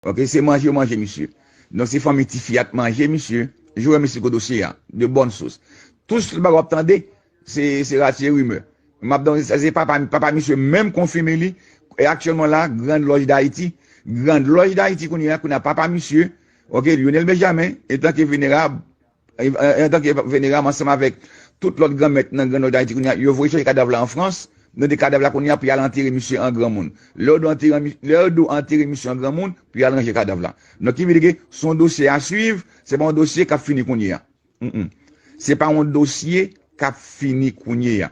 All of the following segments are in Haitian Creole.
Ok se manje yo manje misye. Donk se fanmi tifi a t manje misye. Joe mesi pou dosye a. De bonne source. Tout sl bagay wap tande se rati e rumeur. Map dan sa se papa papa misye menm konfime li e aktyelman la grand loj dayiti grand loj dayiti kounyea kounyea papa misye ok Lionel Benjamin etanke venerab Antanke Veneram ansanm avèk tout lòt granmèt nan Gran Nò Dayiti kounye a, yo voye chache kadav la an Frans, mete kadav la kounye a pou y al antere misye an granmoun. Lè yo do antere misye an granmoun, pou y al ranje kadav la. Donk ki vle di ke se yon dosye a swiv, se pa yon dosye k ap fini kounye a. Se pa yon dosye k ap fini kounye a.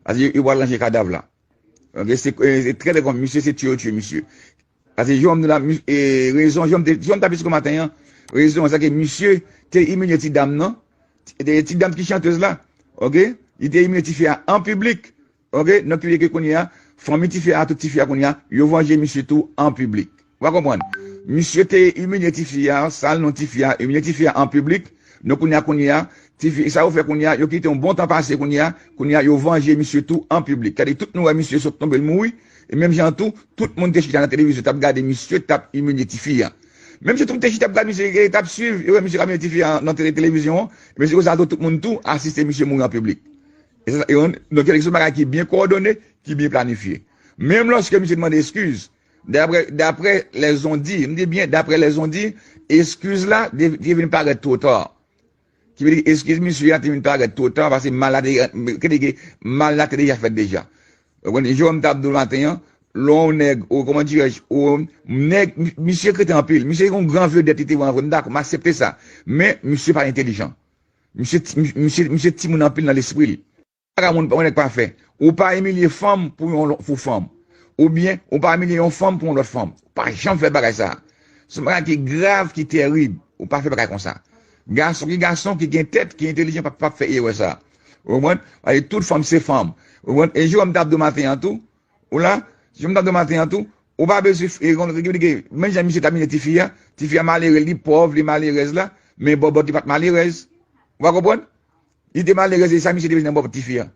Paske yo pral ranje kadav la. Se trè trè konpli. Misye se tiye yo tiye misye. Sa se Jhon m di la e rezon Jhon m tap isit maten an rezon se ke misye te imilye ti dam nan ti dam ki chantez la ok li te imilye tifi a an piblik ok donk ki vle di ke kounye a fanmi tifi a tout tifi a kounye a yo vanje misye tou an piblik ou a konprann misye te imilye tifi a sal non tifi a imilye tifi a an piblik donk kounye a kounye a tifi sa yo fè kounye a yo kite yon bon tan pase kounye a kounye a yo vanje misye tou an piblik sa vle di tout nou wè misye sot tonbe l mouri E menm jan an tou, tout moun te chita nan televizyon tap gade misye tap imilye tifi an. Menm jan tout te chita ap gad misye e tap swiv, yo wè misye kap imilye tifi an nan televizyon an, e se konsa tou tout moun tou asiste misye mouri an piblik. E se sa, donk se yon bagay ki byen kowòdone, ki byen planifye. Menm lòske misye te mande eskiz, daprè daprè lèzon di, m di byen daprè lèzon di, eskiz la te vin parèt two ta. Ki vle di eskiz misye a te vin parèt two ta pase mal la te Ki vle di ke mal la te deja fèt deja Ou konprann Jewòm ta ap di w maten an Lè w wè yon nèg ou kòman dirè je ou wè yon nèg Misye kreten anpil Misye te yon gran vedèt li te vre an vre m dakò m aksepte sa Men misye pa entelijan Misye ti misye ti moun anpil nan lespri l Paga moun yon nèg pa fè. Ou pa imilye fanm pou yon pou fanm. Ou byen ou pa imilye yon fanm pou yon lòt fanm. Ou pa janm fè bagay sa. Se yon bagay ki grav, ki terib. Ou pa fè bagay konsa. Gason ki gason, ki gen tèt, ki entelijan pa p fè erè sa. Ou konprann? Paske tout fanm se fanm. Ou konprann? E Jewòm t ap di w maten an tou, ou la? Jewòm t ap di w maten an tou, ou pa bezwen e yon lòt ki di ke menm jan misye t ap imilye tifi a, tifi a malere, li pòv, li malerèz la, men bòbòt li pa t malerèz. Ou pa konprann? Li te malerèz e sa misye te vin nan bòp tifi an.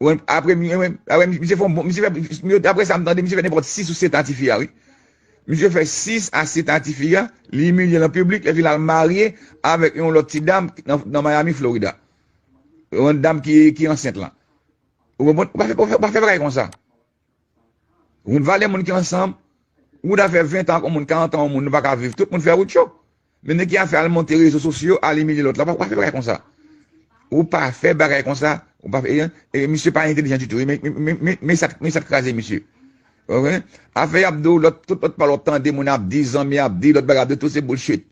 Wè apre mi wè wè misye fon bon misye fè daprè sa m tande misye fè nenpòt 6 ou 7 a tifi a wi. Misye fè 6 a 7 a tifi a, li imilye l an piblik epi l al marye avèk yon lòt ti dam nan Miami Florida. Yon dam ki ansent lan. Ou konprann? Ou pa fè bagay konsa. Wout vale moun ki ansanm, wout a fè 20 an ak yon moun, 40 an ak yon moun nou pa ka viv, tout moun fè wout yo. Men nèg ki a fè al monte rezo sosyo, al imilye lòt la, ou pa fè bagay konsa. Ou pa fè bagay konsa, ou pa fè, e misye pa entelijan ditou, men sa k kraze misye. Afè y ap di w lòt, tout lòt pale w ap tande moun ap di, zanmi ap di, lòt bagay ap di, tout se bullshit.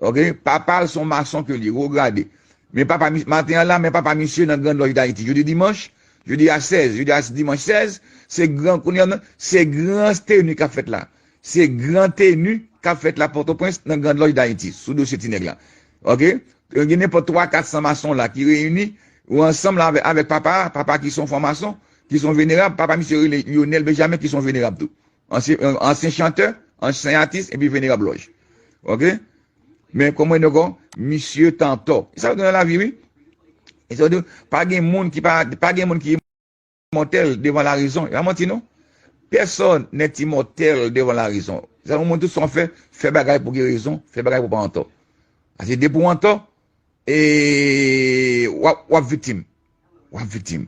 Ok papal son mason ke li ro grade men papa misye maten an la men papa misye nan grand loj dayiti jodi dimanch jodi a 16 jodi a dimanch 16 se gran kounye an se gran steni kap fèt la se gran teni kap fèt la potoprens nan grand loj dayiti sou dosye ti nèg la ok gen nenpòt 3 400 mason la ki reyini ou ansanm la avèk papa a papa ki son fwa mason ki son venerab papa misye rele lionel benjamin ki son venerab tou Ansyen chantè, ansyen atis epi venerab lòj. Ok. Men konprann yo kon misye t antò. E sa yo di nan lavi wi. E sa yo di pa gen moun ki pa, pa gen moun ki imòtèl devan larezon. E pa manti non. Pèsòn nèt imòtèl devan larezon. Se sa nou montre tout sa w fè, fè bagay pou gen rezon, fè bagay pou w pa antò. Paske depi w antò, e w ap viktim. W ap viktim.